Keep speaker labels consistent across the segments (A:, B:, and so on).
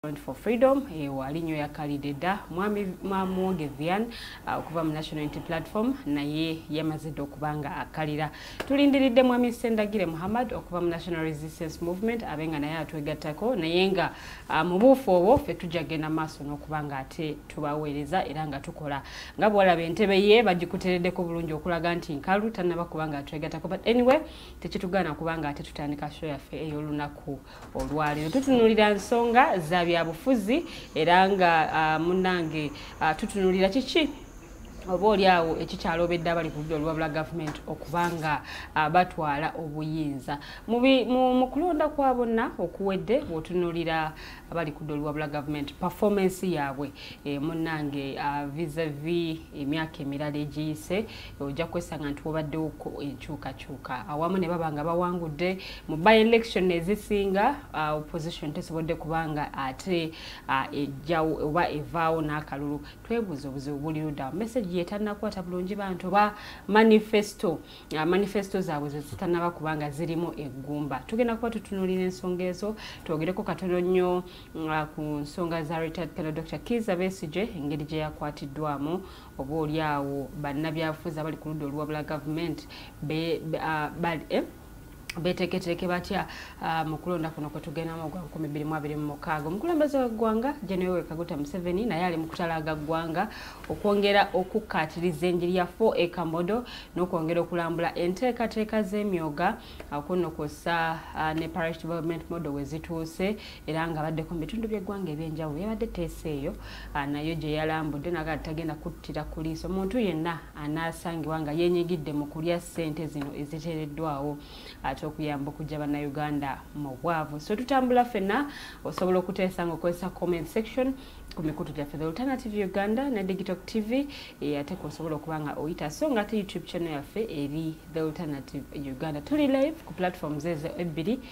A: Front for Freedom eyo ali nnyo yakalidde dda mwami mwamwoge vian uh, okuva mu national unity platform naye yamaze dda okuba nga akkalira tulindiridde mwami sendagire muhammad okuva mu national resistance movement abe nga naye atwegattako naye nga uh, mu buufu obwo ffe tujja genda maaso n'okuba nga ate tubaweereza era nga tukola nga bwalaba entebe ye bagikutereddeko bulungi okulaga nti nkalu tannaba kuba nga atwegattako but anyway tekitugaana kuba nga ate tutandika show yaffe ey'olunaku olwaleero tutunulira nsonga za byabufuzi era nga ah, munange ah, tutunulira kiki oba olyawo ekikyalobedde abali ku ludda olubabula gavumenti okuba nga ah, batwala obuyinza mu kulonda kwa bonna okuwedde bwotunulira abali ku ludda olubabula gavumenti pefomance yaabwe eh, munange visavi emyaka emirala egiyise ojja kwesanga nti wabaddewoko enkyukakyuka awamu ne baba nga bawangudde mu by election ezisinga uh, opposition tesobodde kubanga ate uh, ejjawo oba evaawo n'akalulu twebuuza obuzibu buli luda message yetannakwata bulungi bantu oba manifesto uh, manifesto zaabwe zezitanaba kubanga zirimu eggumba tugenda kuba tutunulira ensonga ezo twogereko katono nnyo ku nsonga za retard pelo dr kiza besige engeri gye yakwatiddwamu oba oli awo bannabyabufuzi abali ku ludda oluwabula gavumenti eh, beteeketeeke batya ah, mu kulonda kuno kwe tugendamu ogwa nkumi bbiri mu abiri mu mukaaga omukulembeze w'eggwanga general kaguta museveni naye ali mu kutalaaga ggwanga okwongera okukkaatiriza enjiri ya fo ekamodo n'okwongera okulambula enteekateeka z'emyoga ah, kunno kwossa ah, ne parish development model we zituuse era nga baddeko mu bitundu by'eggwanga eby'enjawulo yabadde teesa eyo ah, nayo gye yalambudde naga tagenda kuttira ku liiso muntu yenna anaasangibwa nga yenyigidde mu kulya ssente zino eziteereddwawo ate okuyamba okujja bannayuganda mu bwavu so tutambula ffenna osobola okuteesa nga okozesa comment section ku mikutu gyaffe the alternative uganda ne digital tv eh, ate kuosobola okuba nga oyita so nga ate youtube channel yaffe eri the alternative uganda tuli live ku platforms ezo ebbiri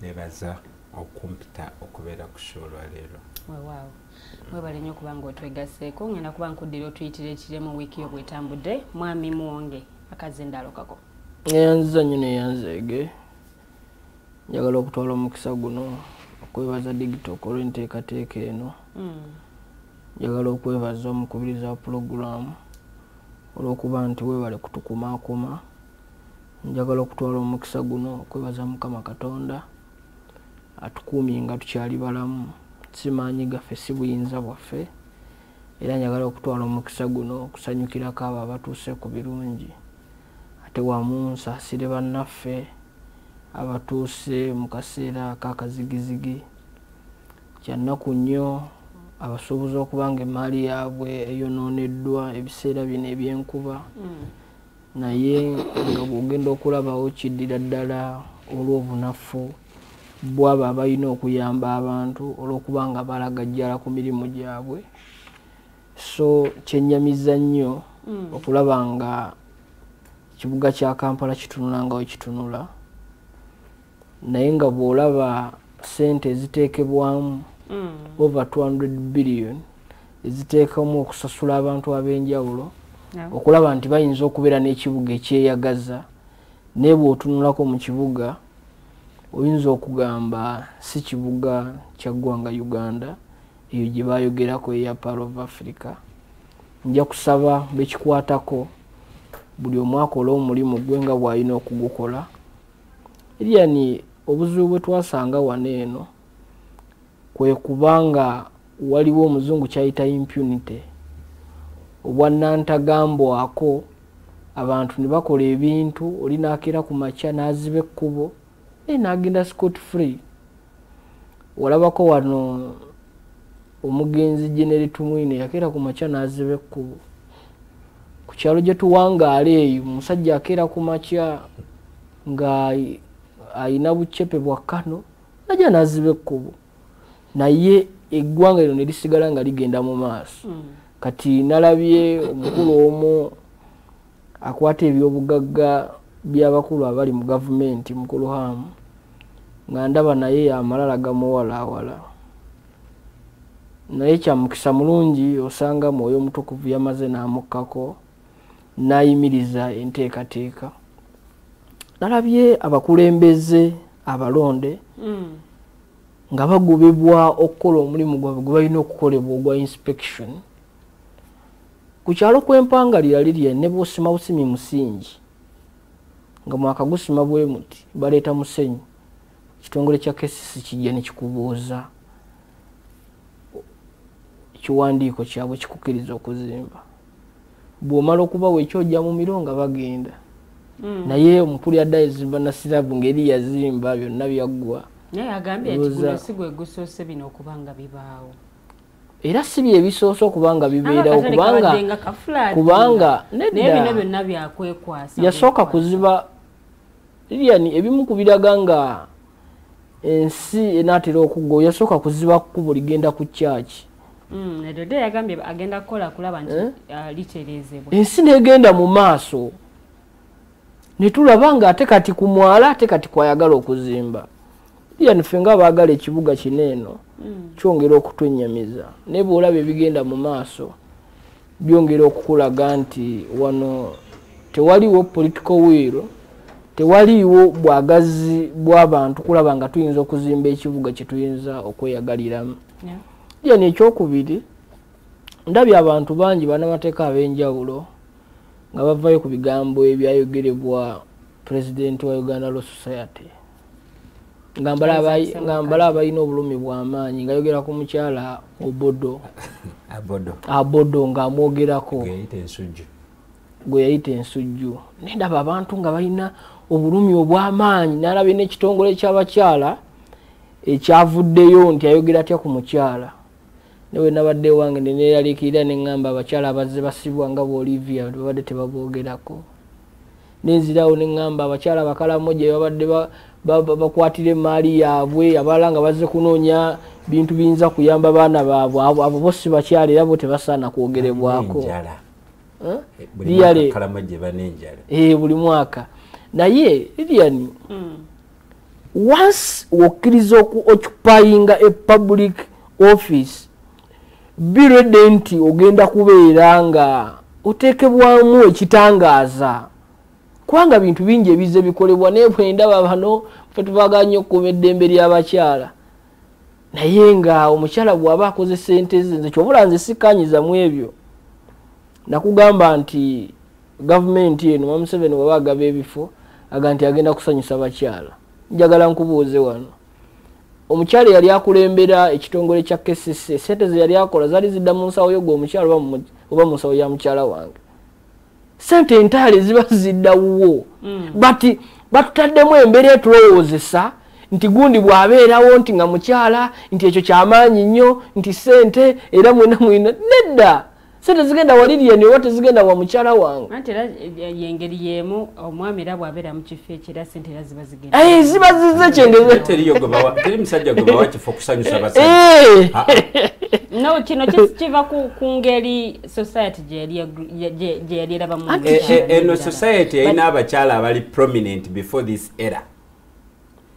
B: nebaza okumpita okubeera ku sho olwaleero wewaawo
A: webale nyo okuba nga otwegaseeko ngenda kuba nkuddira otuyitira ekiremu wiiki yo bwetambudde mwami muwonge akazi endalokako neyanziza nyo
C: neyanzeege njagala okutwala omukisa guno okwebaza digitoka olwenteekateeka eno hmm. njagala okwebaza omukubiriza wa pulogulaamu olwokuba nti webale kutukumaakuma njagala okutwala omukisa guno okwebaza mukama katonda atukuumye nga tukyali balamu simaanyi gaffe si buyinza bwaffe era njagala okutwala omukisa guno okusanyukirako abo abatuuse ku birungi ate wamu nsaasire bannaffe abatuuse mu kaseera kakazigizigi kyannaku nnyo abasuubuza okuba nga emmaali yaabwe eyonooneddwa ebiseera bino ebyenkuba mm. naye nga bwogenda okulabawo kiddira ddala olw'obunafu bwabo abalina okuyamba abantu olw'okuba nga balagajjala ku mirimu gyabwe so kyenyamiza nnyo mm. okulaba nga kibuga kya kampala kitunula nga wekitunula naye nga bwolaba sente eziteekebwamu mm. over 200 billion eziteekamu okusasula abantu ab'enjawulo okulaba nti bayinza okubeera n'ekibuga ekyeyagaza naye bw'otunulako mu kibuga oyinza okugamba si kibuga kya ggwanga uganda eyo gye bayogerako eya par of africa nja kusaba bekikwatako buli omwakola omulimu gwe nga bwalina okugukola Lilian obuzibu bwe twasanga wano eno kwe kubanga waliwo omuzungu kyayita impunity obwannantagambwako abantu ne bakola ebintu oli nakeera ku makya n'aziba ekkubo naye n'agenda scot free walabako wano omugenzi generi tumwine yakeera ku makya n'aziba ekkubo ku kyalo gye tuwangaala eyo omusajja akeera ku makya nga alina bucepe bwa kano najja n'aziba ekkubo naye eggwanga lino ne lisigala nga ligenda mu maaso mm. kati nalabye omukulu omu akwata ebyobugagga byabakulu abali mu gavumenti mukulu hamu nga ndaba naye amalala gamuwalaawala naye kyamukisa mulungi osanga mwoyo omutukuvu yamaze n'amukkako n'ayimiriza enteekateeka nalabye abakulembeze abalonde mm. nga bagobebwa okukola omulimu gwabwe gwe balina okukolebwa ogwa inspection ku kyalo kw'empangalira lirye ne bwosima busimi musingi nga mwakagusima bwe muti baleeta musenyu ekitongole kya kcc kijja ne kikubuuza ekiwandiiko kyabwe kikukiriza okuzimba bw'omala okubawo ekyojja mu miro nga bagenda hmm. naye omukulu yadda ezimba nasirabu ngeri yazimba byonna byaggwa naye agambye
A: nti guno si gwe gusoose bino okuba nga bibaawo era
C: si bye bisoose okuba nga bibeerawo kubanga
A: yasooka kuziba
C: lilian ebimu ku biraga nga ensi enaatera okugwa yasooka kuziba kkubo ligenda ku kyaki mm,
A: eh? uh, ensi negenda
C: mu maaso netulaba nga ate kati ku mwala ate kati kwayagala okuzimba yani ffe nga abaagala ekibuga kino eno mm. kyongera okutunyamiza naye bwolaba ebigenda mu maaso byongera okukulaga nti wano tewaliwo political will tewaliiwo bwagazi bw'abantu kulaba nga tuyinza okuzimba ekibuga kye tuyinza okweyagaliramu yani ekyokubiri ndabye abantu bangi banamateeka ab'enjawulo nga bavayo ku bigambo ebyayogerebwa pulezidenti wa uganda law society ngambala abalina obulumi bwamaanyi nga yogera ku mukyala obodo abodo ngaamwogerako gwe yayita ensujju nendaba abantu nga balina obulumi obwamaanyi nalabye nekitongole kyabakyala ekyavuddeyo nti ayogera atya ku mukyala nawe nabadde ewange neneralikirira nengamba abakyala abazze basibwa nga boolivia babadde tebaboogerako nenzirawo neŋŋamba abakyala bakalamu gye babadde bakwatira emaali yaabwe abalala nga bazze kunoonya bintu biyinza kuyamba baana baabwe abo bo si bakyala era bo tebasaana kwogerebwako liyale eh, buli mwaka naye lilian hmm. once wokkiriza okuoccupyinga a public office birede nti ogenda kubeera nga otekebwamu ekitangaaza kubanga bintu bingi ebize bikolebwa naye bwendaba bano fe tuvaga nnyo okukuuma eddembe ly'abakyala naye nga omukyala bwaba akoze sente ze nze kyobula nze sikanyiza mu ebyo nakugamba nti gavumenti eno mamuseveni waba agaba ebifo aga nti agenda kusanyusa bakyala njagala nkubuuze wano omukyala eyali akulembera ekitongole kya kcc sente zeyali akola zali zidda mu nsawo yo gwe omukyala oba mu nsawo ya mukyala wange sente entaale ziba zidda wuwo mm. but batutaddemu embeera etulowoozesa nti gundi bwabeerawo nti nga mukyala nti ekyo kyamaanyi nnyo nti sente era mwena mwena nedda so tezigenda wali lyeni oba tezigenda wa mukyala wange anti era
A: yengeri yemu omwami era bwabeera mu kifo ekira sente era ziba zigenda aye ziba zize
C: kyengezeteri
B: musajja gwebawa kifo kusanyusa basa eh. ah,
A: ah. no kino kiva ku ngeri society gyeyali erabamu eh, eh, eno
B: society erina abakyala abali prominent before this era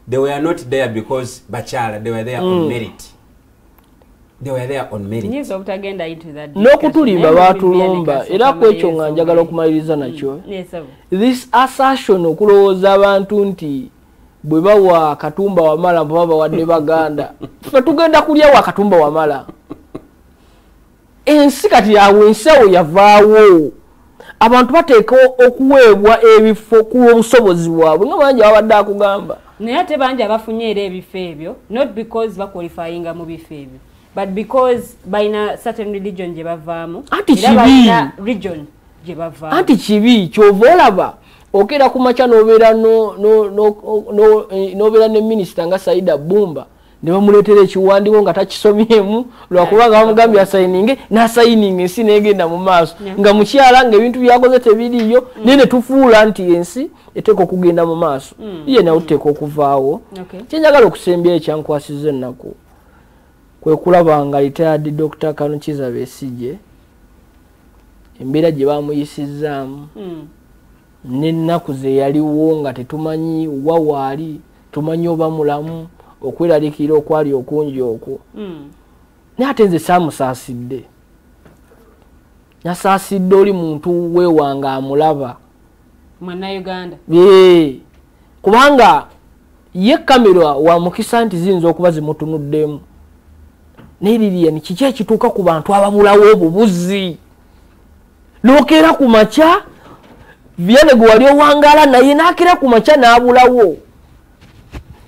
B: they were not there because bakyala they were there mm. on merit
C: n'okutulimba baatulumba era ku ekyo nga njagala okumaliriza mm. nakyo this assertion okulowooza abantu nti bwe bawa katumba wamala mpoba bawadde baganda fe tugenda kulya wa katumba wamala ensi kati yawe ensi awo yavaawo abantu bateeka okuweebwa ebifo ku lw'obusobozi bwabwe nga bangi ababadde akugamba naye ate bangi
A: abafunye era ebifo ebyo not because bakwalifayinga mu bifo ebyo but because balina certain religion gye bavaamu anti kibi
C: region gye
A: bavaamu anti kibi kyova
C: olaba okeera ku makya nobeera nobeera ne minisita nga saida bumba ne bamuleetera ekiwandiiko nga takisomyemu lwakuba nga bamugambye asayininge n'asayininga ensi n'egenda mu maaso nga mukyala nga ebintu byakoze tebiriiyo mm. naye ne tufuula nti ensi eteeka okugenda mu maaso mm. ye nawe tuteeka okuvaawo kyenjagala okusembyayo ekyankwasiza ennaku kwe kulaba nga retired dr kanukiza besigye embeera gye bamuyisizzaamu mm. n'ennaku ze yaliwo nga tetumanyi wa waali tumanyi oba mulamu okweraliikirira okwali okungi okwo hmm. naye ate nze saamusaasidde nasaasidde oli muntu wewange amulaba mwannauganda
A: ee kubanga
C: ye kamera wa mukisa nti ziyinza okuba zimutunuddemu naye lilian kiki ekituuka ku bantu ababulawo obubuzi nokeera ku makya viane gwe wali owangala naye nakeera ku makya n'abulawo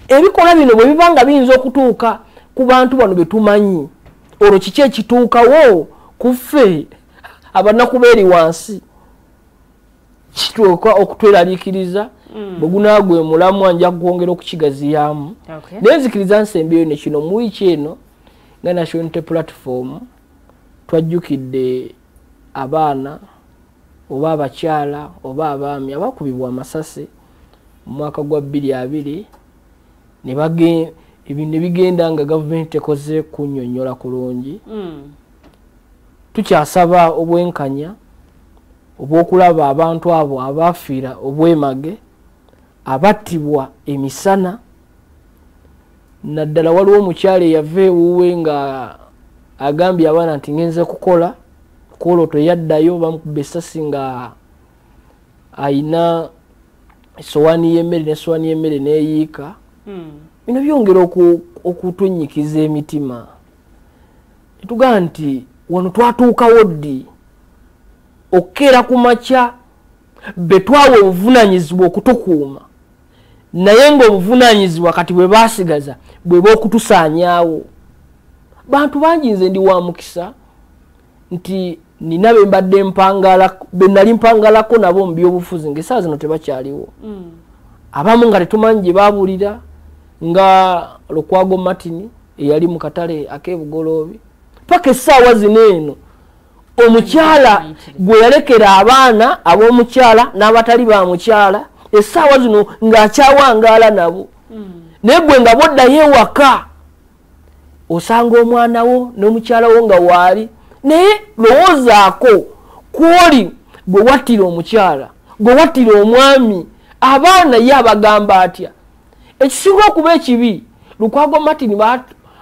C: ebikolwa bino bwe biba nga biyinza okutuuka ku bantu bano be tumanyi olwo kiki ekituukawo ku ffe abanaku beeri wansi kituuka okutweraliikiriza Mm. bwegunagwe mulamwa nja kwongera okukigaziyamu naye nzikiriza nsembeyo nekino muwiiki eno nga nationality platform twajjukidde abaana oba abakyala oba abaami abakubibwa amasasi mu mwaka gwa bbiri abiri ebintu nebigenda nga gavumenti tekoze kunyonyola kulungi hmm. tukyasaba obwenkanya obwokulaba abantu abo abaafiira obwemage abattibwa emisana naddala waliwo omukyalo eyava ewuwe nga agambye abaana nti ngenze kukola kwolwo teyaddayo bamukuba esasi nga ayina esowaani y'emmere nesowaani y'emmere neyiika hmm. bino byongera okutunyikiza emitima netugamba nti wano twatuukawo ddi okukeera ku makya betwawa obuvunanyizibwa okutukuuma naye ngaobuvunanyizibwa kati bwebasigaza bweba okutusanyawo bantu bangi nze ndi wa mukisa nti nina bembadde mpangala benali mpangalako nabo mubyobufuzi nga esaa zino tebakyaliwo mm. abamu nga tetumanyi gyebabulira nga lukwago martin eyali mukatale akebugoloobi paka esaawa zino eno omukyala gwe yalekera abaana ab'omukyala n'abatali ba mukyala essaawa zino ng'akyawangaala nabo hmm. naye gwe nga boddayo ewaka osanga omwana wo n'omukyala wo nga waali naye lowoozaako kwoli gwe wattira omukyala gwe wattira omwami abaana ye abagamba atya ekisinga okuba ekibi lukwago martin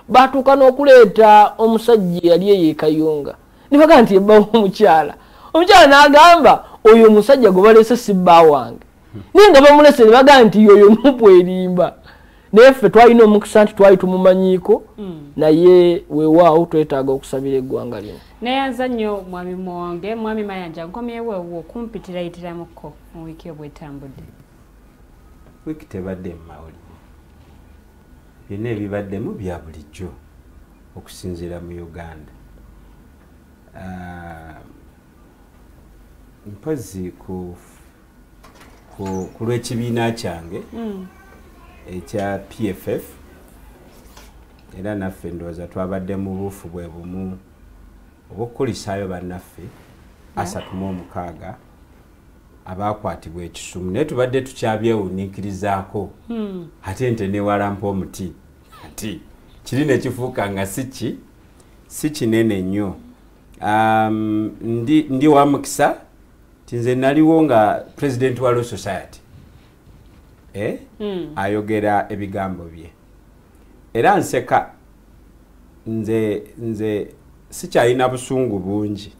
C: batuuka n'okuleeta omusajja eyali eyo ekayunga nibaga nti ebbawo omukyala omukyala n'agamba oyo omusajja gwe baleese si bba wange naye nga bamulese nebaga nti yoyo nupu erimba naye ffe twalina omukisa nti twali tumumanyiiko hmm. naye wewaawo twetaaga okusabira eggwanga lino neyanza nnyo
A: mwami muwonge mwami mayanja nkomyewewo okumpitirayitiramuko mu wiiki obwetambudde
B: wiki tebadde mumawulire byonna ebibaddemu bya bulijjo okusinziira mu uganda ah, mpozi ku lw'ekibiina kyange hmm. ekya pff era naffe ndowooza twabadde mu buufu bwe bumu obwokukulisaayo bannaffe asatu mu omukaaga abaakwatibwa ekisumu naye tubadde tukyabyewuniikirizaako hmm. ate nte newalampa omuti ati kiri nekifuuka nga siki si kinene nnyo um, ndi, ndi wa mukisa ti nze naliwo nga president wa law society eh? mm. ayogera ebigambo bye era nseka nze nze sikyalina busungu bungi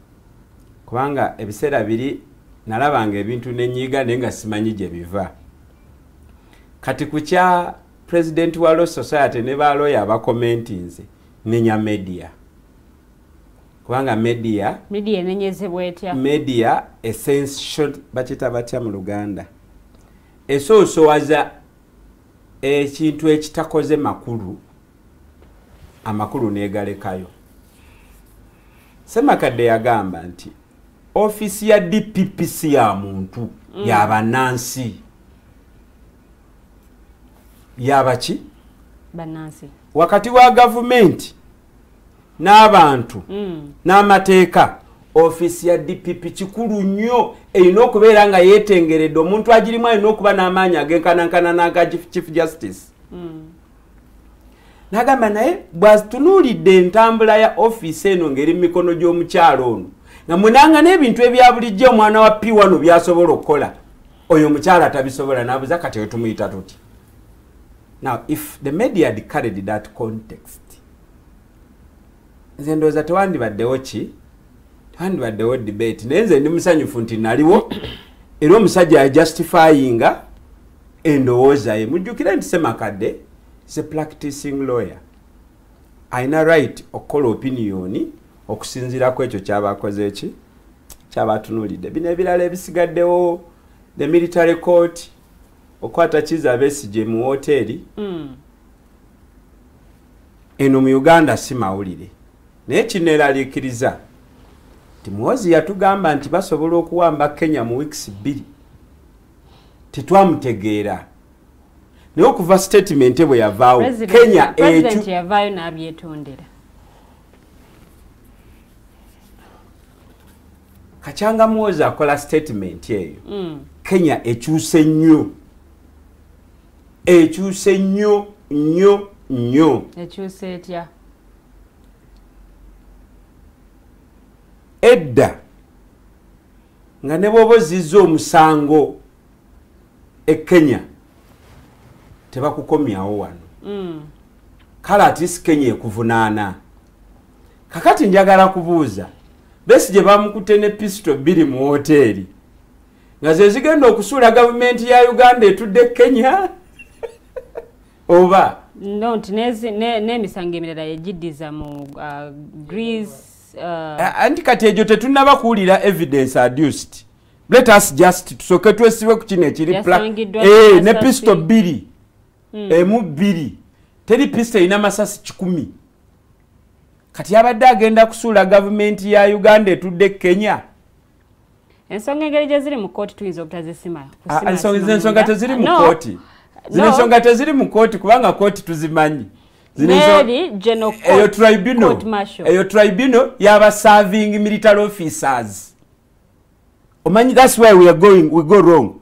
B: kubanga ebiseera biri nalabanga ebintu nenyiiga naye nga simanyi gye biva kati ku kya president wa law society ne baloya abakomentinze nenya media kubanga media media enenyezebwa
A: etya media
B: essential bakita batya mu luganda esoosowaza ekintu ekitakoze makulu amakulu negalekayo semakadde yagamba nti ofisi ya dpp si ya muntu mm. yabanansi yabaki
A: wakati wa
B: gavumenti n'abantu mm. n'amateeka ofiisi ya dpp kikulu nnyo erina okubeera nga yeetengeredde omuntu agirimu alina okuba n'amaanyi agenkanankana n'aga chief justice mm. nagamba naye bwatunuulidde entambula ya ofiisi eno ng'eri mu mikono gy'omukyalo ono nga munanga n'ebintu ebya bulijjo omwana wa p wano byasobola okukola oyo omukyala tabisobola nabuza kati oyo tumuyita tuti now if the media had carried that context nze ndowooza tewandibaddewo ki tewandibaddewo debate naye nze ndi musanyufu nti naliwo era omusajja yajustifyinga endowooza ye mujjukire nti semakadde se practicing lawyer alina right okukola opiniyoni okusinziira ku ekyo kyabakoze ki kyabatunulidde bino ebirala ebisigaddewo the military court okwata kiza besigye mu woteeri mm. eno mu uganda si mawulire naye kineeraliikiriza nti muwozi yatugamba nti basobola okuwamba kenya mu wiikisi bbiri tetwamutegeera naye okuva sitatimenti bwe yavaawo kenya ekyo kakyanga muwozi akola statement eyo mm. kenya ekyuse nnyo ekyuse nnyo nnyo nnyo ekyuse etya edda nga ne bwoba ozizza omusango e kenya tebakukomyawo wano mm. kale atisi kenya ekuvunaana kakati njagala kubuuza besi gye bamukutte ne pisito bbiri mu woteeri nga ze zigenda okusuula gavumenti ya uganda etudde kenya oba no nti
A: n'emisango emirala yegiddiza mu uh, greece
B: uh, anti kati egyo tetunaba kuwulira evidence adused let us just tusoke twesibe ku kino ekiri eh, ne pisito bbiri mm. emu bbiri teri pista erina masasi kikumi kati abadde agenda kusuula gavumenti ya uganda etudde kenya
A: ensonga engeri gyeziri mu kooti tuyinza obutazisima ah, ah, ensonga
B: teziri mu kooti zino ensonga teziri mu kooti kubanga kooti tuzimanyi eyo tribunal yaba serving military officers omanyi thats why weare going we go wrong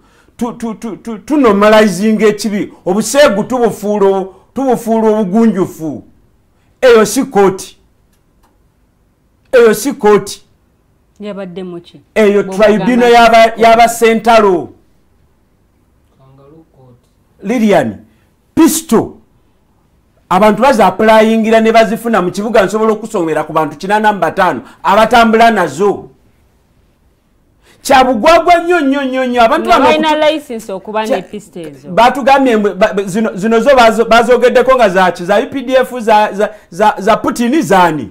B: tunomalizinga ekibi obuseegu tubufuula obugunjufu eyo si kooti eyo si kooti
A: eyo tribunal
B: yabasentalo lilian pisto abantu bazapulayingira ne bazifuna mu kibuga nsobola okusomera ku bantu kinana mu bataano abatambula nazo kyabugwagwa nnyo nnyo nnyo nnyo abantu
A: batugambye
B: zino zo bazogeddeko nga zaki za updf za putini zani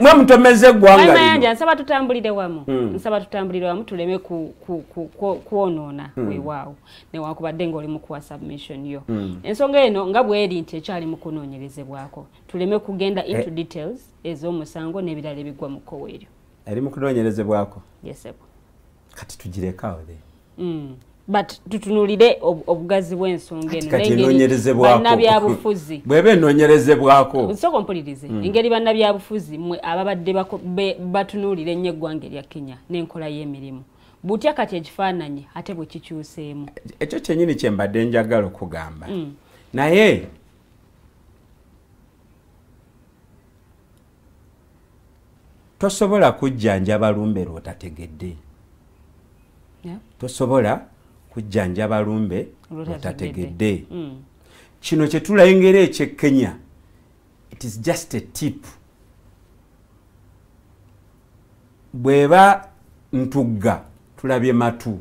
B: mwe mutomeza eggwanga mayanja nsaba tutambulire wamu
A: hmm. nsaba tutambulire wamu tuleme kwonoona hmm. wewaawo newakubadde ngaoli mukuwa submission yo hmm. ensonga eno nga bweri nti ekyali mukunoonyerezebwako tuleme kugenda into eh. details ez'omusango n'ebirala ebigwa mu kkowa eryo eri mukunoonyerezebwako
B: yesebo
A: kati
B: tugirekawo the mm.
A: but tutunulire obugazi bw'ensonga enobanabyabufuzi bweba
B: enonyerezebwako sooka ompulirize
A: mm. engeri bannabyabufuzi mwe ababadde batunuulira ennyo eggwanga erya kenya n'enkola y'emirimu butya kati ekifaananyi ate bwe kikyuseemu ekyo kyenyini kye
B: mbadde njagala okugamba mm. naye tosobola kujjanjaba lumbe lwotategedde tosobola kujjanjaba lumbe lwotategedde hmm. kino kyetulengera ekyekenya it is just a tip bweba ntugga tulabye matu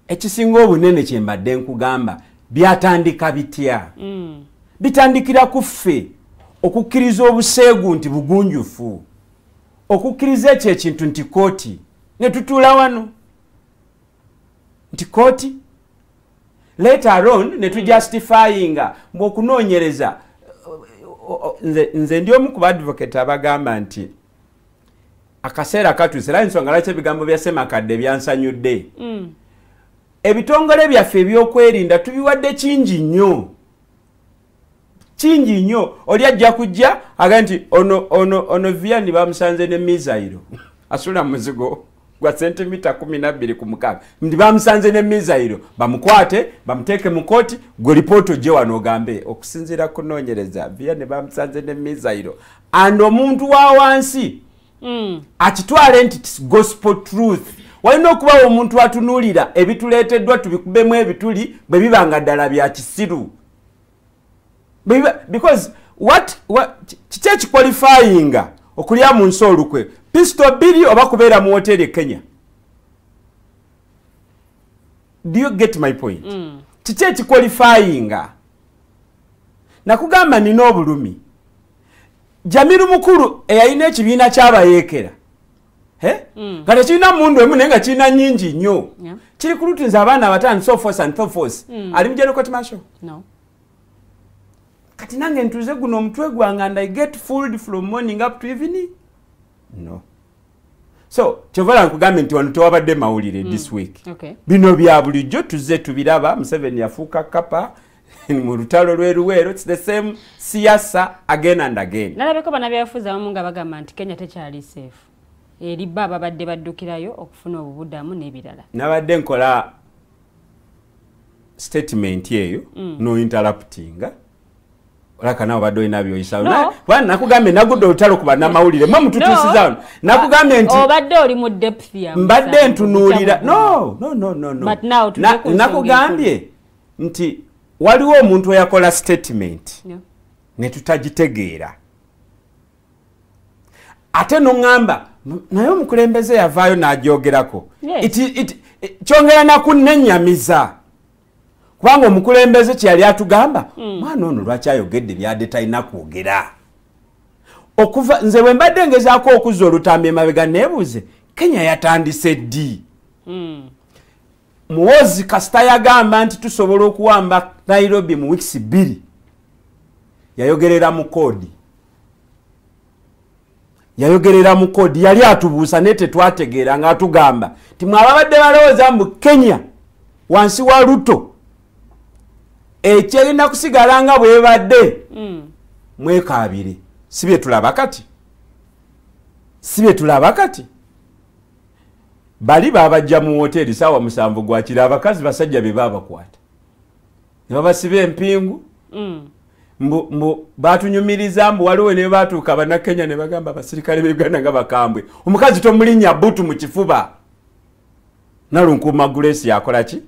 B: ekisinga obunene kyembadde nkugamba byatandika bitya mm. bitandikira ku ffe okukkiriza obuseegu nti bugunjufu okukkiriza ekyo ekintu nti kooti ne tutuula wano nti kooti letaron ne tujustifyinga mbu okunoonyereza nze ndi omu ku baadvocate abagamba nti akaseera katuuse era ensonga lwaki ebigambo bya semakadde byansanyudde mm. ebitongole byaffe ebyokwerinda tubiwadde kingi nnyo kingi nnyo oli ajja kujja aga nti ono ono ono viani bamusanze ne misairo asula muzigo gwa sentimita kumi nabbiri ku mukaaga nti bamusanze ne mizayiro bamukwate bamuteeke mu kooti gwe lipooti ogye wano ogambe okusinziira kunoonyereza viya ne bamusanze ne mizayiro and omuntu wa wansi mm. akitwale nti tis gospel truth walina okubawo omuntu atunuulira ebituleeteddwa tubikubemu ebituli bwe biba nga ddala bya kisiru because what kiki ekikwalifayinga okulya mu nsi olukwe pisito bbiri oba kubeera mu woteeri e kenya do you get my point mm. kiki mm. ekikwalifayinga nakugamba nina obulumi jamiru mukulu eyalina ekibiina kyabayeekera nga tekirina mundu emu naye nga kirina nyingi nnyo kiri ku lutu nze abaana abatano sofos and thofos mm. ali mujerokotmasho kati nange ntuze guno omutwe gwanga and i get fooled from morning up to evening no so kyovala nkugambye nti wano tewabadde mawulire mm. this week bino bya bulijjo tuzze tubiraba museveni yafuuka kapa mu lutalo lwe luweero its the same siyasa again and again nalabeko banabyafuzi abamu
A: nga bagamba nti kenya tekyali safe eri bo ababadde baddukirayo okufuna obubudamu n'ebirala nabadde nkola
B: statement eyo mm. no interruptinga olaka nawe obadde olina byoyisawo no. kubanga nakugambye nagudde olutalo ku bannamawulire mwe mututuusizawo no. nakugambye nti obadde oli mu depth
A: mbadde ntunuulira
B: no, no, no, no, no. nakugambye nti waliwo omuntu eyakola statement yeah. netutagitegeera ate noŋamba naye omukulembeze yavaayo nagyogerako kyongera nakunenyamiza kubanga omukulembeze kyeyali atugamba hmm. mwana ono lwaki ayogedde byade talina kwogera okuva nze bwe mbadde ngezaako okuzza olutambi emabega nebuuze kenya yatandise ddi hmm. muwozi kasita yagamba nti tusobola okuwamba nairobi mu wiks bbiri yayogerera mu koodi yayogerera mu koodi yali atubuusa naye tetwategeera nga atugamba nti mwe ababadde balowooza mu kenya wansi wa luto ekyerina kusigala nga bwebadde mm. mwekaabire si byetulaba kati si byetulaba kati bali babajja mu woteeri saawa musanvu gwakiri abakazi basajja be babakwata ne babasiba empingu mm. mbu mbu batunyumiriza mbu waliwo ne batuuka abannakenya ne bagamba abasirikale be uganda nga bakambwe omukazi tomulinnya butu mu kifuba nalunkuuma gulesi yakola ki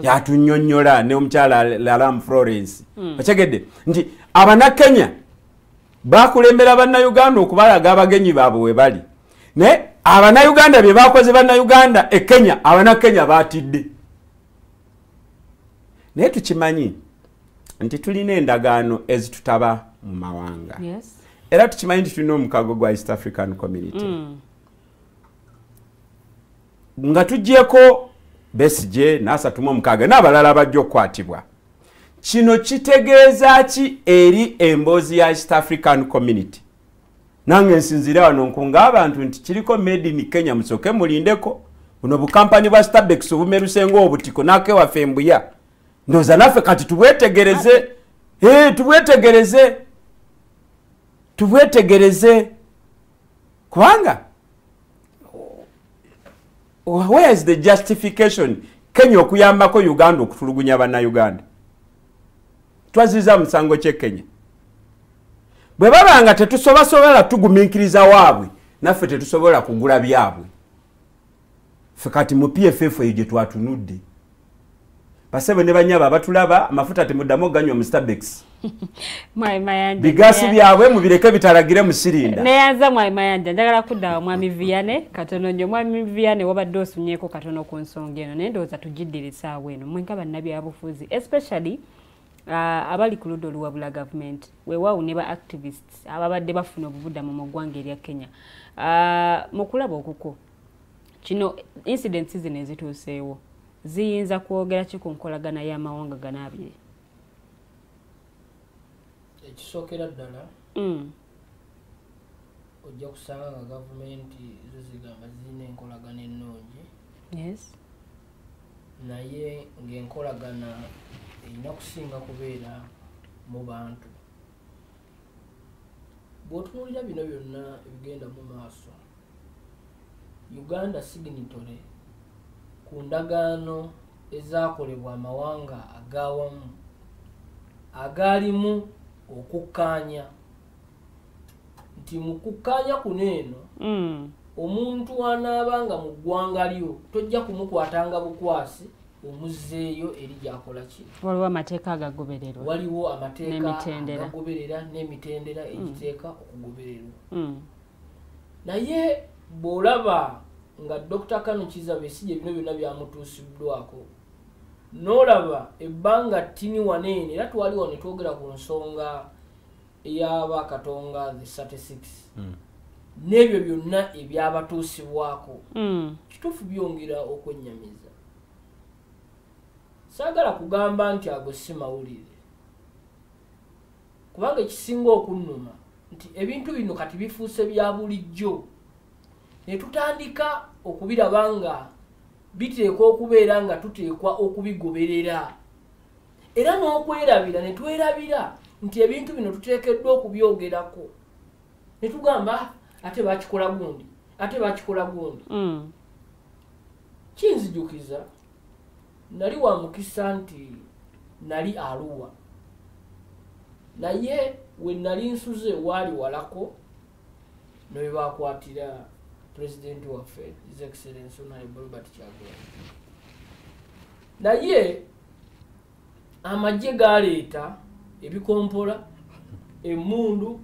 B: yatunyonyola ne omukyala lalam florence mm. okyegedde nti abannakenya bakulembera bannayuganda okubalaga abagenyi baabwe we bali naye abanayuganda bye bakoze bannayuganda e kenya abanakenya batidde naye tukimanyi nti tulina endagaano ezitutaba mu mawanga era tukimanyi nti tulina omukago gwa east african community mm. nga tugyeko besije nasatuma omukaaga n'abalala bajja okukwatibwa kino kitegeeza ki eri emboozi ya east african community nange nsinzire wano nkunga abantu nti kiriko made in kenya musoke mulindeko buno bukampani bwa stabex obumerusenga obutiko nakewaffe mbuya ndoza naffe kati tubwetegereze eh, tubwetegereze tubwetegereze kubanga where is the justification kenya okuyambako uganda okutulugunya banauganda twaziza musango kye kenya bwe baba nga tetusobasobola tugumiikiriza waabwe naffe tetusobola kugula byabwe fe kati mu pff eyo gye twatunudde basebo ne banyaba abatulaba amafuta temudamu oganywa mu starbucks bigaasi byabwe mubireke bitalagire musirinda neyanza mwami mayanja
A: njagala kuddawa mwami viane katono nyo mwami viane wabadde osumyeko katono ku nsonga eno naye ndowooza tugiddirisaawo eno mwenga bannabyabufuzi especially uh, abali ku ludda oluwabula gavumenti weewaawo ne ba activists ababadde bafuna obubudamu mu ggwanga erya kenya uh, mu kulaba okuko kino incidents zino ezituuseewo ziyinza kwogera ki ku nkolagana y'amawanga gano abiri
C: ekisookera ddala mm. ojja kusanga nga gavumenti zo zigamba zirina enkolagana ennungi yes naye ng'enkolagana erina kusinga kubeera mu bantu bwotunuulira bino byonna ebigenda mu maaso uganda signitore ku ndagaano ezakolebwa amawanga agawamu agaalimu okukkaanya nti mu kukkaanya kuno eno mm. omuntu anaaba nga mu ggwanga lyo tojja kumukwatanga bukwasi omuzzeeyo eri gyakola ki waliwo amateeka
A: agagobererwa waliwo
C: amateekaagagoberera n'emitendera mm. egiteeka okugobererwa mm. naye bw'olaba nga dr kano kizabe si gye bino byonna byamutuusiddwako n'olaba ebbanga ttini waneene era twali wano twogera ku nsonga eyaba katonga the 36 mm. n'ebyo byonna ebyabatuusibwako mm. kituufu byongera okwennyamiza saagala kugamba nti ago si mawulire kubanga ekisinga okunnuma nti ebintu bino kati bifuuse bya bulijjo ne tutandika okubiraba nga biteekwa okubeera nga tuteekwa okubigoberera era n'okwerabira ne twerabira nti ebintu bino tuteekeddwa okubyogerako ne tugamba ate bakikola gundi ate bakikola gundi mm. kinzijukiza nali wa mukisa nti nali aluwa naye we nali nsuze waali walako newebakwatira pulezidenti waffe his excellence honorable robert kyagulanyi naye amagye galeeta ebikompola emundu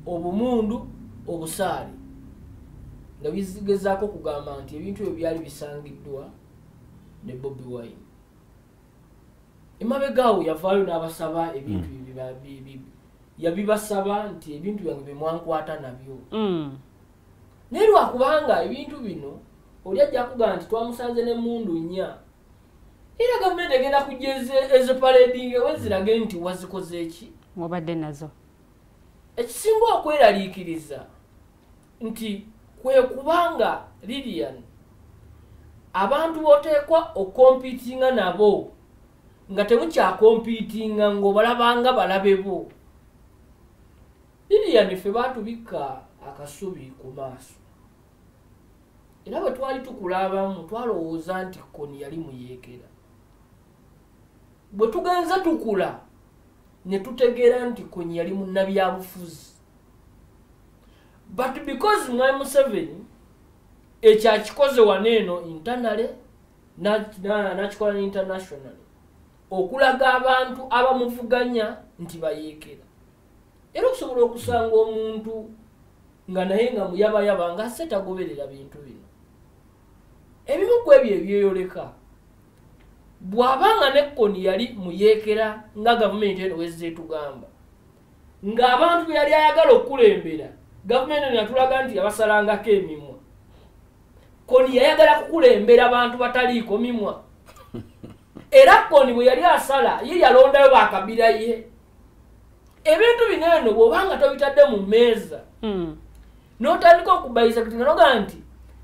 C: obumundu obusaale nga bizigezaako okugamba nti ebintu ebyo byali bisangiddwa ne bobi wine emabegaawo yavaayo n'abasaba ebintu hmm. yabibasaba nti ebintu byange byemwankwata nabyo hmm. naye lwakubanga ebintu bino oli ajja kugamba nti twamusanze nemundu nnya era gavumenti egenda kujja ezipaledinga wezirage nti wazikoze eki mubadde nazo
A: ekisinga
C: okweraliikiriza nti kwe kubanga lilian abantu boteekwa okompitinga nabo nga temukyakompitinga ngaobalabanga balabe bo lilian ffe batubikka akasubi ku maaso era bwe twali tukula abamu twalowooza nti koni yali muyeekera bwe tugenze tukula ne tutegeera nti koni yali munnabyabufuzi but because mwai museveni ekyo akikoze wano eno intanale nakikola ne internationaly okulaga abantu abamuvuganya nti bayeekera era okusobola okusanga omuntu nga naye nga muyabayaba nga se tagoberera bintu bino ebimu ku ebyo ebyeyoleka bw'aba nga nekkoni yali muyeekera nga gavumenti eno wezze etugamba ng'abantu be yali ayagala okukulembera gavumenti eno yatulaga nti yabasalangako emimwa koni yayagala kukulembera bantu bataliiko mimwa era koni bwe yali asala ye yalondayo bakabira ye ebintu bino eno bwobanga tobitadde mu meeza hmm. notandika okubayisa kati nganoga nti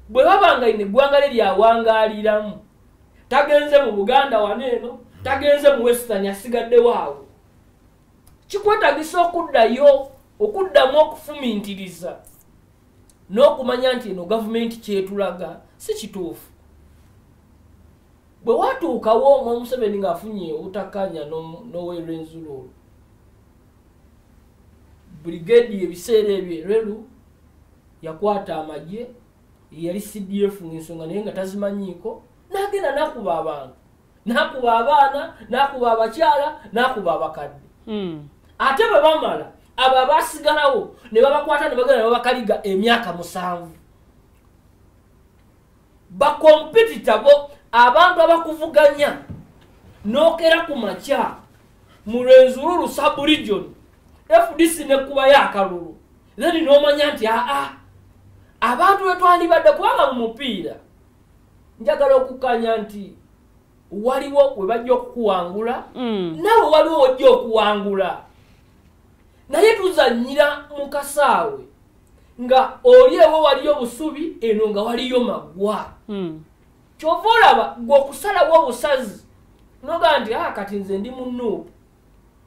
C: bwe babanga ino eggwanga lye lyawangaaliramu tagenze mu buganda wano eno tagenze mu western asigaddewo awo kikwetagisa okuddayo okuddamu okufumintiriza n'okumanya nti eno gavumenti kyetulaga si kituufu bwe watuukawo omwa museveni ng'afunye obutakkaanya n'owe rwenzululu brigade ebiseera ebyo erelu yakwata amagye yali cdf ng'ensonga naye nga tazimanyiiko n'agenda n'akuba abantu n'akuba abaana n'akuba abakyala n'akuba abakadde hmm. ate bwe bamala abo abasigalawo ne babakwata ne bagenda ne babakaliga emyaka musanvu bakompitita bo abantu abakuvuganya nokera ku makya mu lwenzululu subregion fdc nekubayo akalulu then nomanya nti aa abantu wetwandibadde kubanga mu mupiira njagala okukanya nti waliwo webajja okukuwangula mm. nawe waliwo wajja okuwangula naye tuzanyira mu kasaawe nga oli ewo waliyo busubi eno nga waliyo magwa hmm. kyova olaba gwe okusalawo obusazi noga nti a ah, kati nze ndi munuupu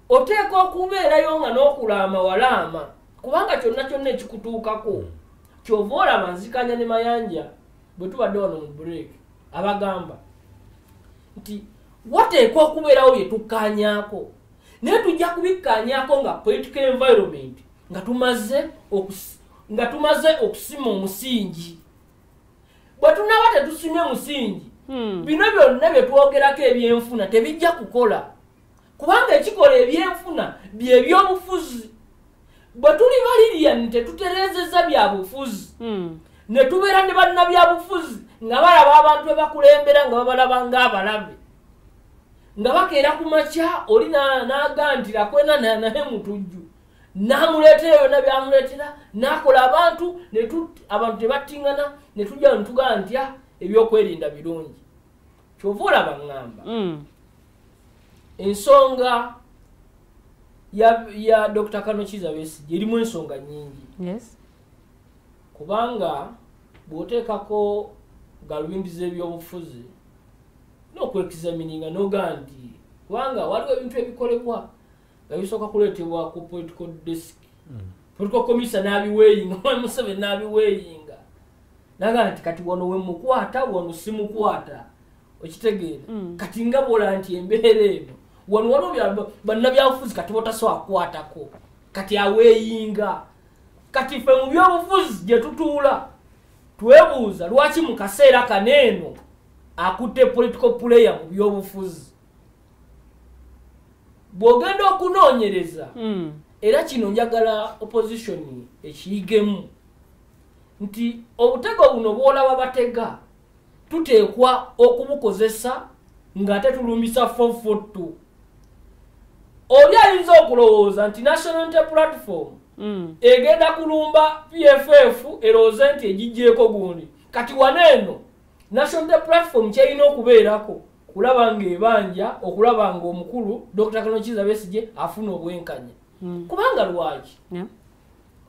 C: oteeka okubeerayo nga n'okulaama walaama kubanga kyonna kyonna ekikutuukako hmm. kyova olaba nzikanya ne mayanja bwe tubadde wano mu break abagamba nti wateekwa okubeerawo bye tukkaanyaako naye tujja kubikkaanyaako nga political environment nga tumaze nga tumaze okusima omusingi bwe tunaba tetusimye musingi hmm. bino byonna bye twogerako ebyenfuna tebijja kukola kubanga ekikola ebyenfuna byebyobufuzi bwe tuli balirian tetutereezeza byabufuzi hmm. ne tubeera ne bannabyabufuzi nga balaba abantu bebakulembera nga babalaba ngaabalabe nga bakeera ku makya oli nagantira kwena naye mutujju namuleetera byonna byamuleetera nakola abantu abantu tebattingana ne tujja netugaa ntya ebyokwerinda birungi kyova olaba ŋŋamba mm. ensonga ya, ya dr kanokiza besigye erimu ensonga nyingi yes. kubanga bwoteekako galubindi z'ebyobufuzi n'okwekizamininga nogaa nti kubanga waliwo ebintu ebikolebwa nga bisooka kuleetebwa ku political desk mm. political commissa n'abiweeyinga omwami museveni n'abiweeyinga naga nti kati wano wemukwata wano simukwata okitegeera mm. kati nga bola nti embeera eno wano waliwo bannabyabufuzi kati botasobola kukwatako kati aweeyinga kati ffe mu byobufuzi gye tutuula twebuuza lwaki mu kaseera kano eno akutte political player mu byobufuzi bw'ogenda okunoonyereza hmm. era kino njagala opposition ekiyigemu nti obutego buno bw'olaba batega tuteekwa okubukozesa ng'ate tulumbisa fofotto oli ayinza okulowooza nti national inte platform hmm. egenda kulumba pff erowooze nti egigyeko gundi kati wana eno national inte platform kyerina okubeerako kulaba ng'ebanja okulaba ng'omukulu dr kanokiza besigye afuna obwenkanya hmm. kubanga lwaki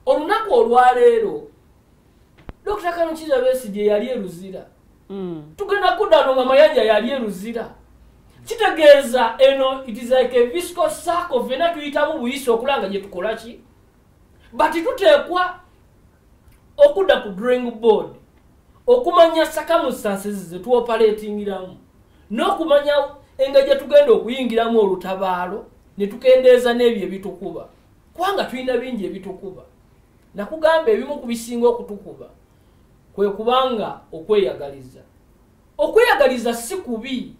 C: olunaku olwaleero dr kanokiza besigye yali eruzira hmm. tugenda kudano nga mayanja yali eruzira kitegeeza eno it is like a visco circle fena tuyitamu buyisi okulanga gyetukolaki but tuteekwa okudda ku drawing board okumanya sakamusansizi zetwopaletingiramu n'okumanya enga gyetugenda okuyingiramu olutabaalo netukendeeza n'ebyo ebitukuba kubanga tulina bingi ebitukuba nakugamba ebimu ku bisinga okutukuba kwe kubanga okweyagaliza okweyagaliza si kubi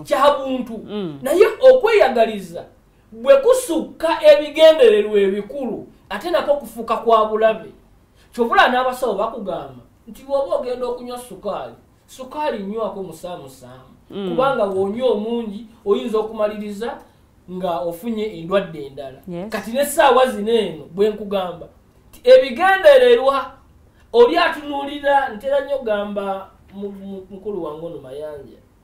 C: kya buntu mm. naye okweyagaliza bwe kusukka ebigendererwa ebikulu ate nako okufuuka kwa bulabe kyovula n'abasawo bakugamba nti bwoba ogenda okunywa sukaali sukaali nywako musaamusaamu mm. kubanga wonywa omungi oyinza okumaliriza nga ofunye endwadde endala kati n'essaawa zino eno bwe nkugamba ebigendererwa oli atunuulira ntera nnyo gamba mukulu wange ono mayanja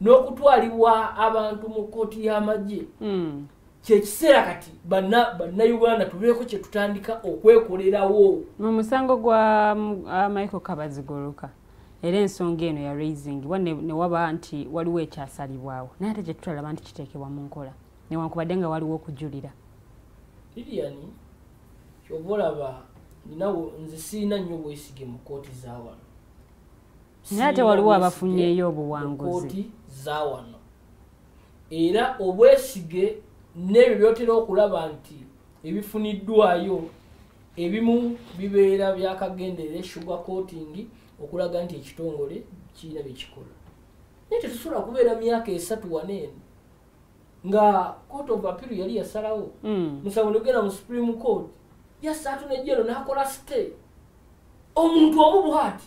C: n'okutwalibwa abantu mu kkooti y'amagye hmm. kyekiseera kati bannayuganda tubeeko kyetutandika okwekolerawo mu musango
A: gwa uh, michael kabazigoloka era ensonga eno ya raisingibwa newaba nti waliwo ekyasalibwawo naye ate kyetutalaba nti kiteekebwa mu nkola newankubadde nga waliwo okujulira liliani
C: kyoba olaba ninawo nze sirina nnyo bwesige mu kkooti zawano
A: naye ate waliwo abafunyeeyo obuwanguzi
C: zawano era obwesige n'ebyo byotera okulaba nti ebifuniddwayo ebimu bibeera byakagenderera esugar coating okulaga nti ekitongole kirina byekikola naye tetusobola kubeera myaka esatu waneeno nga court of appeal yali yasalawo hmm. musango nogenda mu supreme court yasaatu nejero nakola stay omuntu omu bwati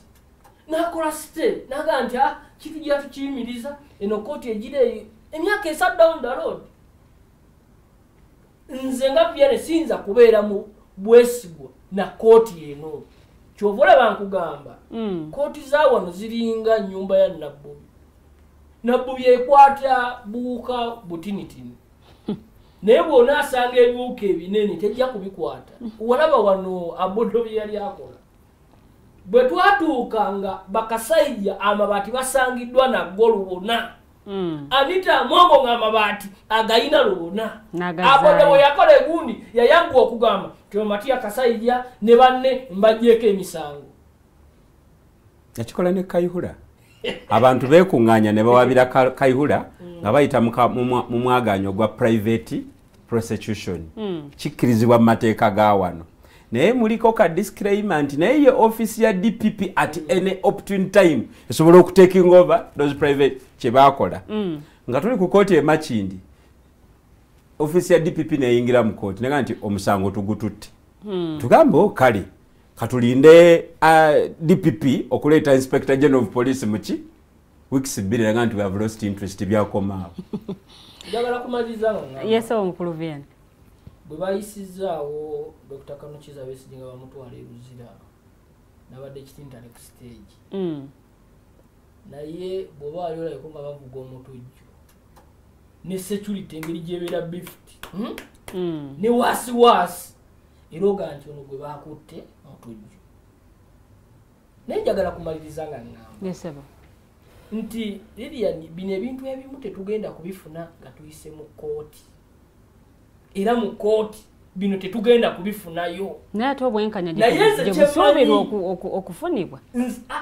C: nakola site naga nti ah, kitu gya tukiyimiriza eno kooti egira eyo emyaka esat down the road nze nga byane siyinza kubeera mu bwesigwa na kooti eno kyova olaba nkugamba hmm. kooti za wano ziringa nyumba ya nabbubi nabbubi ekwata buuka butinitini naye bwona asanga ebiwuka ebinene tejja kubikwata walaba wano abodo bye yali akola bwe twatuuka nga bakasajja amabaati basangiddwa naggo lubona hmm. anita amongo nga amabaati agayina lubona abona bwe yakola egundi yayaggwa okugamba tiomatiya kasajja ne banne mbajjeeko emisango
B: yakikola ne kayihura abantu bekuŋŋaanya ne bawabira kayihura hmm. nga bayita mu mwagaanya ogwa purayiveti prosecution mm. kikkirizibwa mu mateeka ga wano naye muliko ka disclaimer nti naye ye office ya dpp at mm. any opportune time esobola okutaking over those private kyebakola mm. nga tuli ku kooti emakindi office ya dpp neyingira mu kooti naga nti omusango tugututte mm. tugambe o oh, kale katulinde uh, dpp okuleeta inspector general of police muki weeks bbiri eraga nti we have lost interest byakomaawo njagala
C: kumaliriza nga yes owo mukulu vn
A: bwe
C: bayisizaawo dr kanukiza besigi nga bamutwala eruzira nabadde kitintale ku stage mm. naye bwoba wali olabeko nga bavuga omutujju ne security engeri gyebeera bift hmm? mm. ne waasiwaasi era oga nti ono gwe bakutte mutujju naye njagala kumaliriza nga ŋŋamba nti lilian bino ebintu ebimu tetugenda kubifuna nga tuyise mu kkooti era mu kkooti bino tetugenda kubifunayo naye ate
A: obwenkanyaebusuubirwa okufunibwa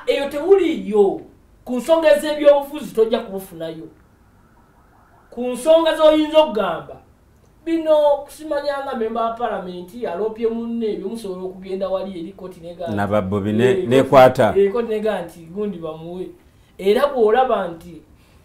A: eyo
C: tewuliyo ku nsonga ez'ebyobufuzi tojja kubufunayo ku nsonga z'oyinza okugamba bino kusimanya nga memba wa palamenti aloopye munne ebyo musobola okugenda wali eri koti nababbobi eh,
B: nekwata eh, koti nega nti
C: gundi bamuwe era bwolaba nti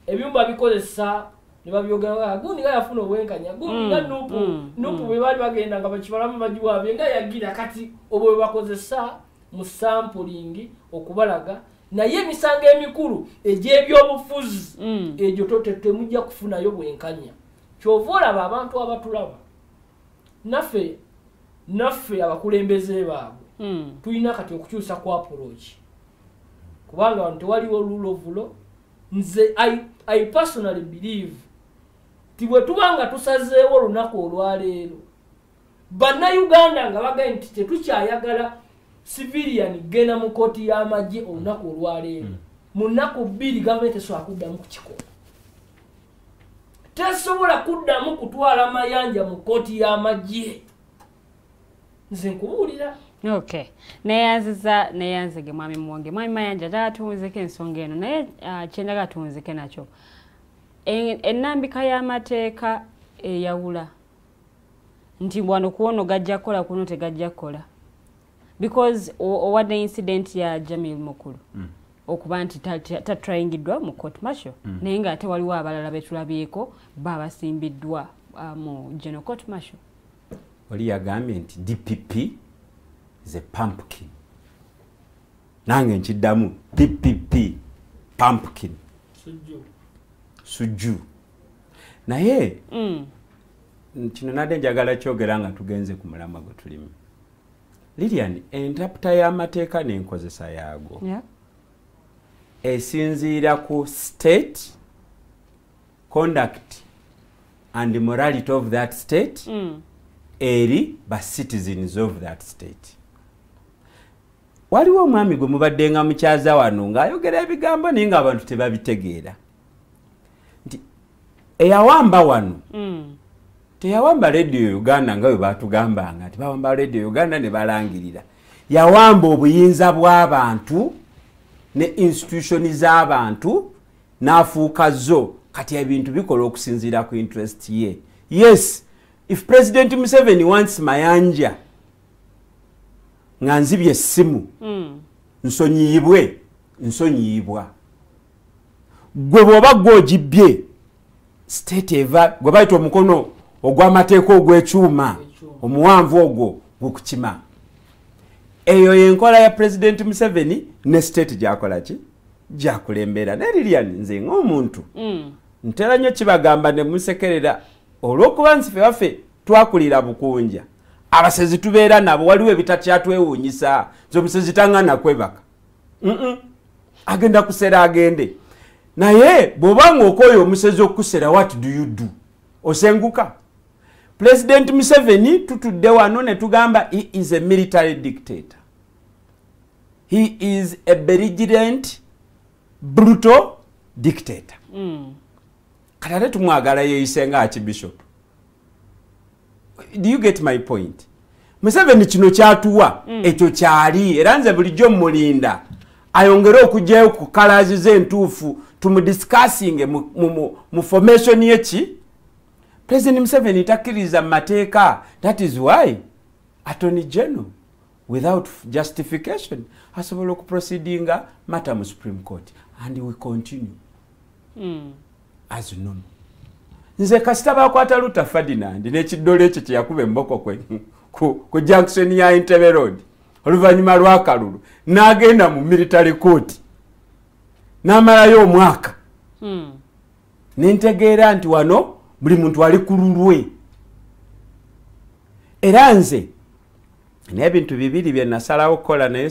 C: ebyumba bikozesa nebabyogaa gundi nga yafuna obwenkanya gundi nga mm, nupu mm, nupu mm. bwebaali bagenda nga bakibalamu bagiwabye nga yagira kati obwo bwebakozesa mu sampulingi okubalaga naye emisango emikulu egyebyobufuzi egyo totetemujja kufunayo bwenkanya kyova olaba abantu abatulaba naffe naffe abakulembeze baabwe hmm. tulina kati okukyusa ku approach kubanga wano tewaliwo lulovulo nze I, i personally believe ti bwe tuba nga tusazeewo olunaku olwaleero bannayuganda nga bagae nti tetukyayagala civilian genda mu kooti y'amagye olunaku olwaleero hmm. mu nnaku bbiri gavumenti esobola kuddamu kukikola tesobola kuddamu kutwala mayanja mu kkooti y'amagye nze nkubuulira ok
A: neyanziza neyanzege mwami muwonge mwami mayanja njagala tuwunzeko ensonga eno naye ah, kyenjagala tuwunzike nakyo ennambika y'amateeka eyawula nti wano kuwono gajja kukola kuno tegajja kukola because owadde incident ya jamil mukulu mm. okuba nti tatrayingiddwa mu court martial mm. naye nga ate waliwo abalala betulabyeko babasimbiddwa uh, mu general court martial wali
B: yagambye nti dpp is a pumpkin nange nkiddamu dpp pumpkin sujju naye mm. kino nadde njagala kyogera nga tugenze ku mulama gwe tulimu lilian entaputa y'amateeka n'enkozesa yaago yeah. esinziira ku state conduct and morality of that state mm. eri ba citizens of that state waliwo omwami gwe mubadde nga mukyaza wano ng'ayogera ebigambo naye ng'abantu tebabitegeera nti eyawamba wano mm. teyawamba radio uganda nga bwe batugambanga nti bawamba radio uganda ne balangirira yawamba obuyinza bw'abantu ne institutioni z'abantu n'afuuka zo kati ebintu bikola okusinziira ku interest ye yes if president museveni wants mayanja nga nzibye essimu mm. nsonyiyibwe nsonyiyibwa gwe bwoba gwe ogibbye state eva gwe bayita omukono ogw'amateeka ogw'ekyuma omuwanvu ogwo gukukima eyo yenkola ya pulezidenti museveni ne state gyakola ki gyakulembera naye lilian nze ngaomuntu mm. ntera nnyo kibagamba ne musekerera olw'okuba nsife waffe twakulira bukunja abasezi tubeera nabo waliwo ebitakyatwewuunyisa nze omusezi tangana kwebaka agenda kusera agende naye bwoba nga okoyo omusezi okukusera what do you do osenguka pulezidenti museveni tutudde wano ne tugamba he is a military dictator he is a berigirent brutal dictator mm. kati ate tumwagala yeeyise nga akibishopu do you get my point museveni kino kyatuwa mm. ekyo kyali era nze bulijjo mulinda ayongere okugyayo ku kalazi ze entuufu tumudiscussinge mu, mu, mu, mu formation yeki president museveni takkiriza mu mateeka that is why attorney general without justification asobola okuproceedinga matter mu supreme court and we continue mm. azinunu nze kasita bakwata luta ferdinand nekiddole ekyo kyeyakuba emboko kwe ku junction ya entebe road oluvannyuma lwakalulu n'agenda mu military court n'amalayo omwaka hmm. nentegeera nti wano buli muntu ali ku lulwe era nze n'ebintu bibiri bye nasalawo okukola naye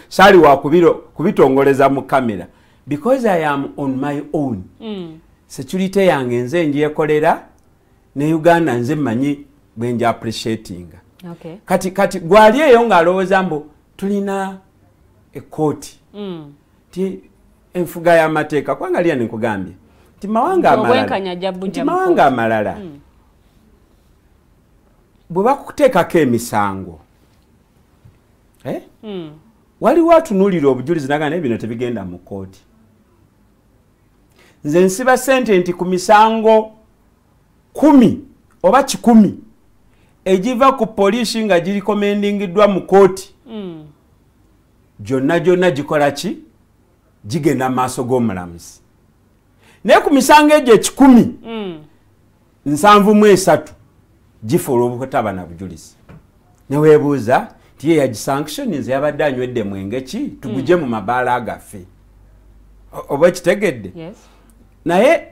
B: saali wakubitongoleza mu kamera because i am on my own mm. security yange nze njekolera ne uganda nze manyi bwenja appreciatinga okay. kati
A: kati gwali eyo
B: ng'alowooza mbu tulina ekkooti mm. ti enfuga y'amateeka kubanga liya nenkugambye nti mawanga amalalainti mawanga amalala mm. bwe bakuteekako emisango eh? mm. waliwo atunulira obujulizi naga naye bino tebigenda mu kooti nze nsiba sente nti ku misango kumi oba kikumi egiva ku poliisi nga girikomendingiddwa mu kooti hmm. gyonna gyonna gikola ki gigenda mu maaso g'omulamuzi naye ku misango egyo ekikumi hmm. nsanvu mu esatu gifa olw'obutaba na bujulizi neweebuuza nti ye yagisanctioninze yabadde anywedde mwenge ki tuguje mu mabaala gaffe oba ekitegedde
A: naye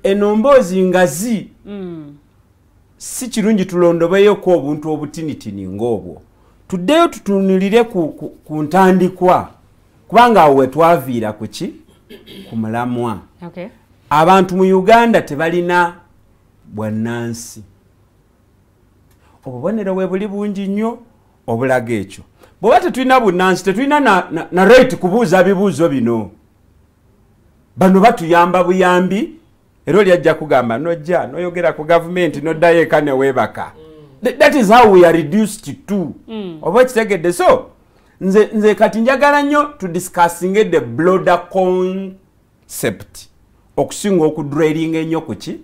B: eno mboozi ngazi mm. si kirungi tulondobeyoku obuntu obutinitini ng'obwo tuddeyo tutunulire ku ntandikwa kubanga awo wetwaviira kuki ku mulamwa okay.
A: abantu mu
B: uganda tebalina bwannansi obubonero we buli bungi nnyo obulaga ekyo bweoba tetulina bunnansi tetulina na, na, na right kubuuza bibuuzo bino bano batuyamba buyambi era oli ajja kugamba nojja noyogera ku gavumenti noddayo eka neweebaka mm. that is how we are reduced to mm. oba okitegedde so nze, nze kati njagala nnyo to discussinge the bloader concept okusinga okudrailinga ennyo kuki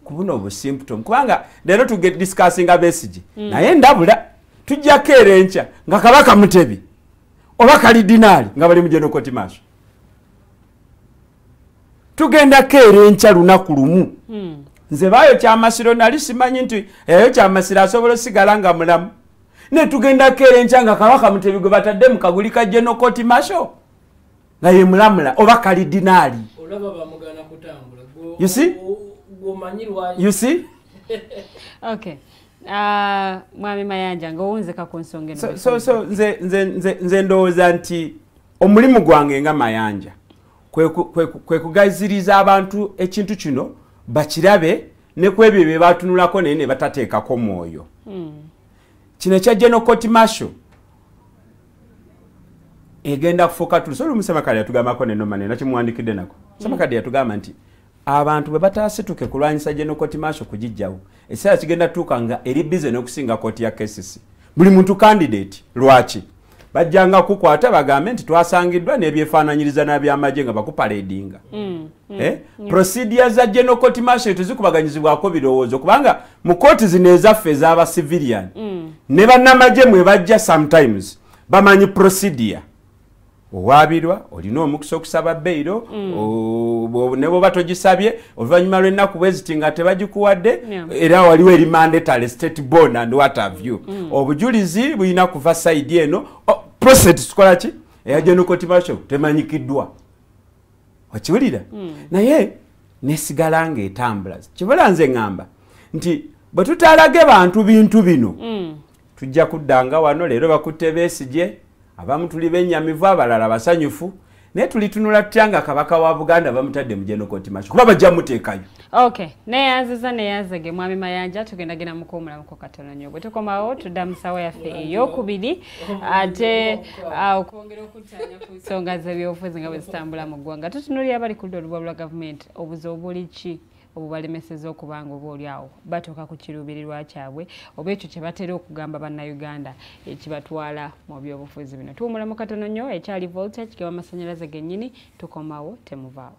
B: kubuno obusymptom kubanga leero tugediscussinga besigi mm. naye ndabula tujjako era enkya nga kabaka mutebi oba kalidinaali nga bali mujenokoti maaso tugendako era enkya lunaku lumu hmm. nze baayo kyamasiro nali simanyi nti eyo kyamasiro asobola osigala nga mulamu ne tugendako era enkya nga kabaka mutebi gwe batadde mu kaguli ka genokoti masho nga ye mulamula oba kalidinaali ah,
A: mwami mayanja ngaowunzeka ku nsonga
B: nze ndowooza nti omulimu gwange nga mayanja kwe kugaziriza abantu ekintu kino bakirabe ne ku ebyo bye baatunulako naye ne batateekako mwoyo hmm. kino ekya general court marshal egenda kufuuka tulusobola omusamakade yatugambako nenomanena kimuwandikidde nako samakade hmm. yatugamba nti abantu bwe bataasituke kulwanyisa genokoti maaso kugijjawo ekiseera kigenda tuuka nga eri bize n'okusinga kooti ya kcc buli muntu kandidate lwaki bajjanga kukwata bagambe nti twasangiddwa n'ebyefaananyiriza n'abyamagye nga bakupaledinga mm, mm, eh? mm. prosidia za genokoti maaso tezikubaganyizibwako birowoozo kubanga mu kooti zino ezaffe ez'aba civilian ne bannamagye mwe bajja sometimes bamanyi prosidia owaabirwa olina omukisa okusaba beyiro mm. ne bwoba togisabye oluvannyuma lw'ennaku bweziti nga tebagikuwadde era waliwo eri mandatory state born and what have you mm. obujulizi bulina kuva sayidi eno oh, process tukola ki eya genocotimatio temanyikiddwa okiwulira mm. naye nesigala nga etambula kibula nze ŋŋamba nti bwe tutalage bantu bintu bino tujja kuddanga wano leero bakutte besigye abamu tuli benyamivu abalala basanyufu naye tulitunula tutya nga kabaka wa buganda bamutadde mu genokotimasho kuba bajja muteekayo ok
A: neyanziza neyanzege mwami mayanja tugenda genda mukuwumulamuko katono nyo bwe tukomawo tudda mu sawa yaffe eyokubiri ate ah, okwongera okutanya ku nsonga zebyobufuzi nga bwe zitambula mu ggwanga tutunulira abali kuludda olubwa lwa gavumenti obuzi obuli ki obubalemeseza okuba nga oba oli awo batuuka ku kiruubirirwa kyabwe oba ekyo kye batera okugamba bannayuganda ekibatwala mu byobufuzi bino tuwumula mu katono nnyo ekyali volta kigaba amasannyalaze gennyini tukomawo temuvaawo